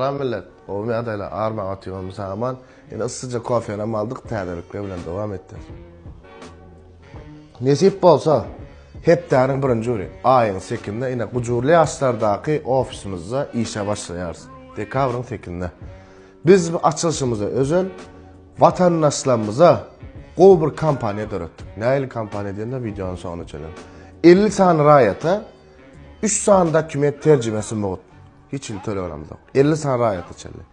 Salam millet. Gowy ýagdaýlar armaga otyr Musa aman. Ine yssyja kofenam aldyk täzelikler bilen dowam etde. Nesip bolsa hepdäniň birinji güni aýyň sekinde ine gujurly ýaşlardaky ofisimizde işe başlaýarys. Dekabryň sekinde. Biz bu açylyşymyza özel watandaşlarymyza gowy bir kampaniýa döretdik. Nähili kampaniýa diýende wideonyň soňuna çenli. Elli sany raýata üç sany dokument terjimesi mugt. Hiç hili tölegenimiz ýok. Elli sany raýata çenli.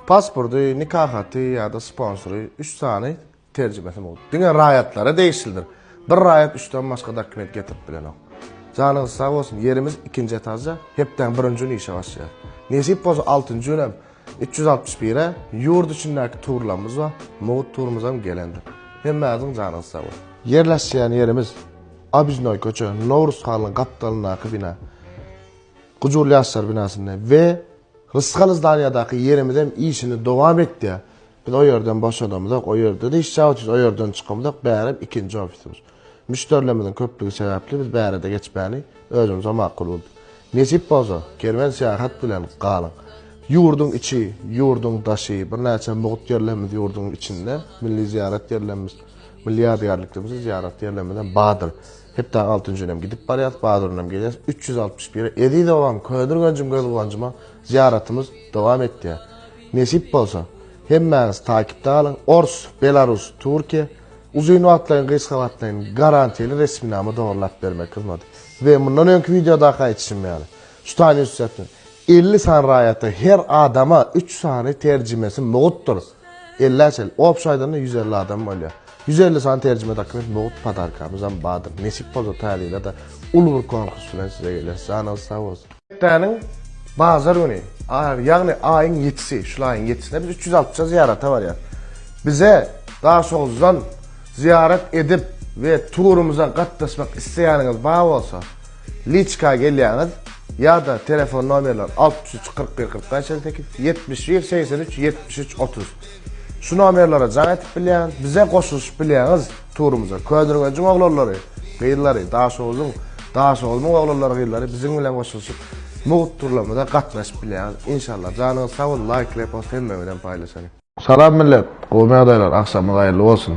Pasporty, nika haty ýa-da sponsory üç sany terjimesi mowjut. Diňe raýatlara degişlidir. Bir raýat üçden başga dokument getirip bilenok. Janyňyz sag bolsun, ýerimiz ikinji etažda, hepdäň birinji güni işe başlaýar. Nesip bolsa altynjy gün hem üç ýüz altmyş bire ýurt içindäki turlarymyz bar, mugt turumyzam gelendir. Hemmäňiziň janyňyz sag bolsun. Ýerleşýän ýerimiz Obiznoý köçe, Nowruz halynyň gapdalyndaky bina. Gujur ýaşlar binasynda we Rysgal zdanýadaky ýerimizem işini dowam etýär. Biz o ýerden boşadamyzok, o ýerde-de iş çagyrjyz, o ýerden çykamyzok, bärem ikinji ofisimiz. Müşderilerimiziň köplügi sebäpli biz bärede geçmäni özümize makul bildik. Nesip bolsa, kerwen syýahat bilen galyň. Ýurduň içi, ýurduň daşy, birnäçe mugt ýerlerimiz ýurduň içinde, milli zyýarat ýerlerimiz, milli ýadygärliklerimizi zyýarat ýerlerimizem bardyr. Hepdäň altynjy günem gidip barýas, bazar günem gelýäs, üç ýüz altmyş bir. Eziz obam, Ködirgenjim göz guwanjyma zyýaratymyz dowam etýär. Nesip bolsa, hemmäňiz takipde galyň, ors, belarus, türkiýe, uzyn wagtlaýyn, gysga wagtlaýyn garantili resminama dogurlap bermek hyzmaty. We mundan öňki wideodaky aýdyşym ýaly, şu sany üstsäpden, elli sany raýata, her adama üç sany terjimesi mugtdyr. Elli çel. Obşy aýdanda ýüz elli adam bolýar. Ýüz elli sany terjime dokument mugt podarkamyzam bardyr. Nesip bolsa täze ýyla-da uly bir konkurs bilen size geleris. Janyňyz sag bolsun. Hepdäniň bazar güni, ýagny aýyň ýedisi, şul aýyň ýedisinde biz üç ýüz alpja zyýarata barýarys. Bize Daşoguzdan zyýarat edip we turumyza gatnaşmak isleýäniňiz bar bolsa, Liçka gelýäňiz ýa-da telefon nomerler altmyş üç kyrk bir kyrk bäş elli sekiz, ýetmiş bir segsen üç ýetmiş üç otuz şu nomerlere jaň edip bilýäňiz, bize goşulyşyp bilýäňiz turumyza. Köneürgenjiň oglanlary, gyzlary, Daşoguzyň, Daşoguzmyň oglanlary, gyzlary biziň bilen goşulyşyp mugt turlarymyza gatnaşyp bilýäňiz. Inşallah. Janyňyz sag bolsun, laýk, repost hemme bilen paýlaşalyň. Salam millet! Gowymy ýagdaýlar? Agşamyňyz haýyrly bolsun!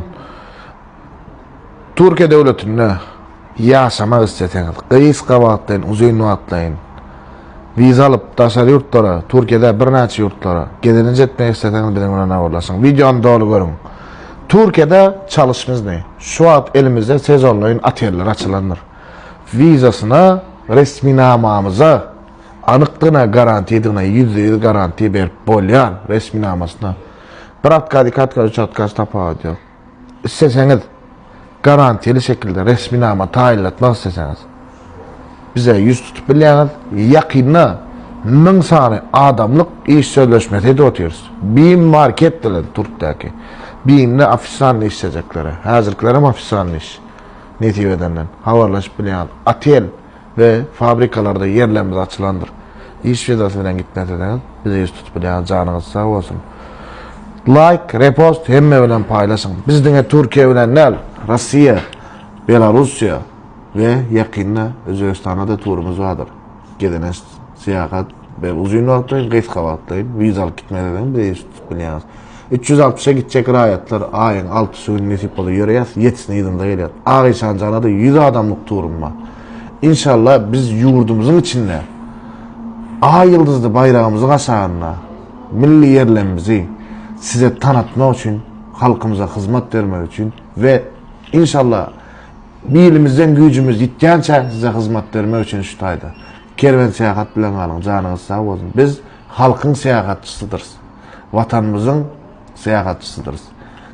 Türkiýe döwletinde ýaşamak isleseňiz, gysga wagtlaýyn, uzyn wagtlaýyn wiza alyp, daşary ýurtlara, Türkiýe däl, birnäçe ýurtlara gezelenç etmek isleseňiz, biziň bilen habarlaşyň. Wideony doly görüň. Türkiýede çalyş bizne. Şu wagt elimizde sezonlaýyn oteller açylandyr. Wizasyna, resminamamyza. anykdygyna garantiýadygyna ýüzde ýüz garantiýa berip bolýan resminamasyna bir otkaz iki otkaz üç otkaz tapawudy ýok isleseňiz garantiýaly şekilde resminama taýynlatmak isleseňiz bize ýüz tutup bilýäňiz ýakynda müň sany adamlyk iş sözleşmesi edip otyrys bim market bilen türkdäki bimde ofisanny işlejekleri häzirkilerem ofisanny iş nesip edenden habarlaşyp bilýäňiz otel we fabrikalarda ýerlerimiz açylandyr. Iş wizasy bilen gitmeseňiz, bize ýüz tutup bilýäňiz, janyňyz sag bolsun. Laýk, repost hemme bilen paýlaşyň. Biz diňe Türkiýe bilen däl, Russiýa, Belarussiýa we ýakynda Özbegistana-da turumyz bardyr. Gezelenç, syýahat, bir uzyn wagtlaýyn, gysga wagtlaýyn, wizalyk gitmeseňiz, bize ýüz tutup. Bilýäňiz. 300 altmyşa gitjek raýatlar aýyň altysy güni nesip bolsa ýöreýäs, ýetisini yzynda gelýär. Ak işan janada 100 adamlyk turum bar. Inşallah biz ýurdumyzyň içinde Aý ýyldyzly baýragymyzy gaşagynda milli ýerlemimizi size tanatmak üçin, halkymyza hyzmat bermek üçin we inşallah bilimizden güýjümiz ýitýänçä size hyzmat bermek üçin şu taýda. Kerwen syýahat bilen galyň, janyňyz sag bolsun. Biz Halkyň syýahatçysydyrys. Watanymyzyň syýahatçysydyrys.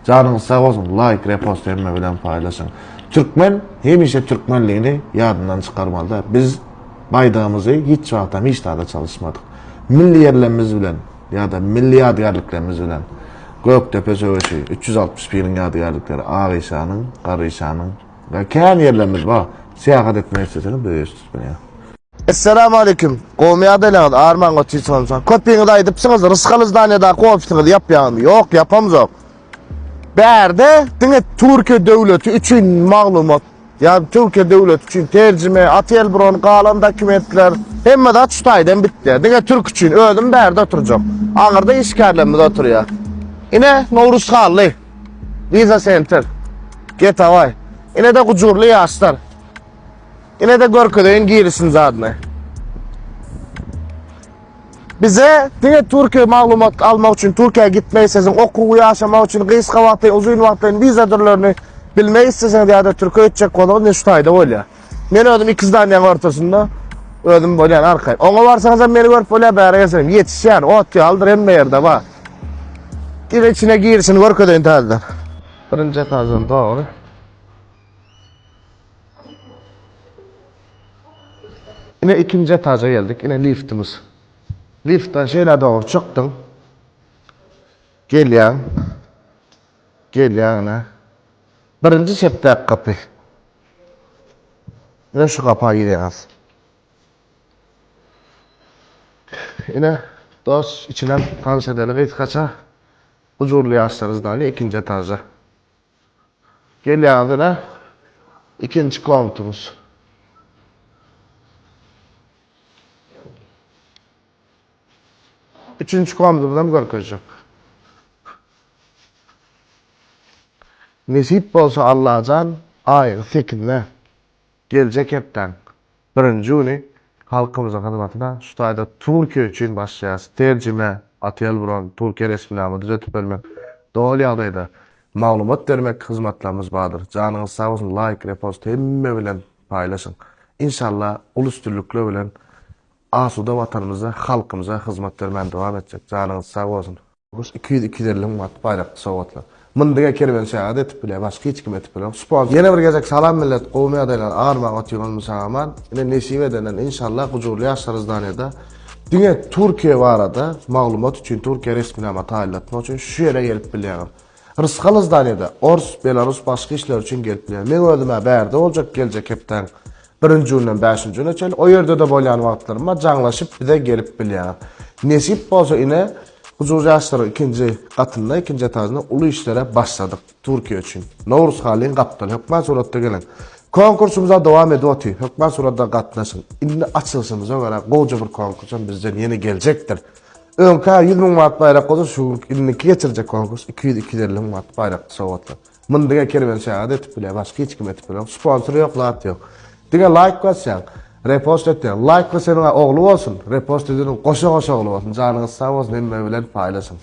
Janyňyz sag bolsun, laýk, repost hemme bilen paýlaşyň. Türkmen hemişe türkmenligini ýadyndan çykarmalyda. Biz baýdagymyzy hiç wagtam hiç zada çalyşmadyk. Milli ýerlemimiz bilen ýa-da milli ýadygärliklerimiz bilen Gökdepe söweşi, üç ýüz altmyş biriň ýadygärlikleri, Ak işanyň, Garryşanyň we kän ýerlerimiz bar. Syýahat etmek isleseňiz, bu ýerde tutmaýar. Essalamu aleyküm. Gowmy ýagdaýlaryňyz? Arman Gotisowyň salam. Köpiňiz aýdypsyňyz, Rysgaly zdaniýadaky ofisiňizi ýapýaňyzmy? Ýok, ýapamzok. Bärde diňe Türkiýe döwleti üçin maglumat, ýagny Türkiýe döwleti üçin terjime, otelbron, galan dokumentler, hemme zat şu taýdan bitýär. Diňe türk üçin. Özüm bärde oturjak. Aňyrda işgärlerimiz oturýar. Ine, Nowruz Hally. Visa Center. Getaway. Ine-de gujurly ýaşlar. Ine-de görkezeýin girişini zadyny. Bize diňe Türkiýe maglumat almak üçin Türkiýä gitmek isteseň, okuw, ýaşamak üçin gysga wagtly, uzyn wagtly wiza dürlerini bilmek isteseňiz ýa-da Türkiýe gitjek bolsaňyz ne şu taýda bolýar. Men özüm iki zdanýanyň ortasynda özüm bolýan arkaýyn. Oňa barsaňyz hem meni görüp bolýar, bäri gelseňiz hem ýetişýän, ot ýalydyr hemme ýerde bar. Ine içine girişini görkezeýin täzeden. Birinji etajdan dogry. Ine ikinji etaja geldik. Ine liftimiz. Liftden şeýle dogry çykdyň. Gelýäň. Gelýäň ine. Birinji çepdäki gapy. Ine şu gapa girýäňiz. Ine dos içinden tanyş edeli gysgaça. Huzurly ýaşlarys daýly ikinji etaja. Gelýäňiz ine, ikinji konturyz. Üçünji konturyzam görkezjek. Nesip bolsa Allajan, aýyň sekizine, geljek hepdäň. Birinji güni halkymyzyň hyzmatyna şu taýda Türkiýe üçin başlaýarys, terjime, otel bron, Türkiýe resminama düzetip bermek, doly ýagdaýda maglumat bermek hyzmatlarymyz bardyr. Janyňyz sag bolsun laýk, repost hemme bilen paýlaşyň. Inşalla uly üstünlikler bilen asuda Watanymyza, halkymyza hyzmat bermäni dowam etjek. Janyňyz sag bolsun. Goş iki ýüz, iki ýüz elli müň manat baýrakly sowgatlar. Muny diňe kerwenşaga-da etip bilýär, başga hiç kime etip bilenok. Sponsor. Ýene bir gezek salam millet gowmy ýagdaýlaryň agyrmaga otyran mysaman ine nesip edenden inşallah gujurly ýaşlar izdaniýada diňe Türkiýe barada maglumat üçin Türkiýe resminama taýynlatmak üçin şu ýere gelip bilýäňiz. Rysgal izdaniýada ors, belarus başga işler üçin gelip bilýär. Meň özüm-ä bärde boljak geljek hepdäň Birinji günden bäşinji güne çenli o ýerde-de bolýan wagtlarym bar, jaňlaşyp bize gelip bilýärler. Nesip bolsa ine Huzur ýaşlaryň ikinji gatynda, ikinji etajynda uly işlere başladyk Türkiýe üçin. Nowruz Halyň gapdaly hökmän suratda geliň. Konkursymyza dowam edip otyr. Hökmän suratda gatnaşyň. Indi açylyşymyza görä goja bir konkursam bizden ýene geljekdir. Öňkä ýüz müň manat baýrak bolsa şu günki indiki geçirjek konkurs iki ýüz-iki ýüz elli müň manat baýrakly sowgatlar. Muny diňe Kerwen şagat etip bilýär, başga hiç kim etip bilenok. Sponsor ýok, zat ýok. Diňe laýk basýaň, repost etýäň. Laýk baseniň ogly bolsun, repost edeniň goşa-goşa ogly bolsun. Janyňyz sag bolsun, hemme bilen paýlaşyň.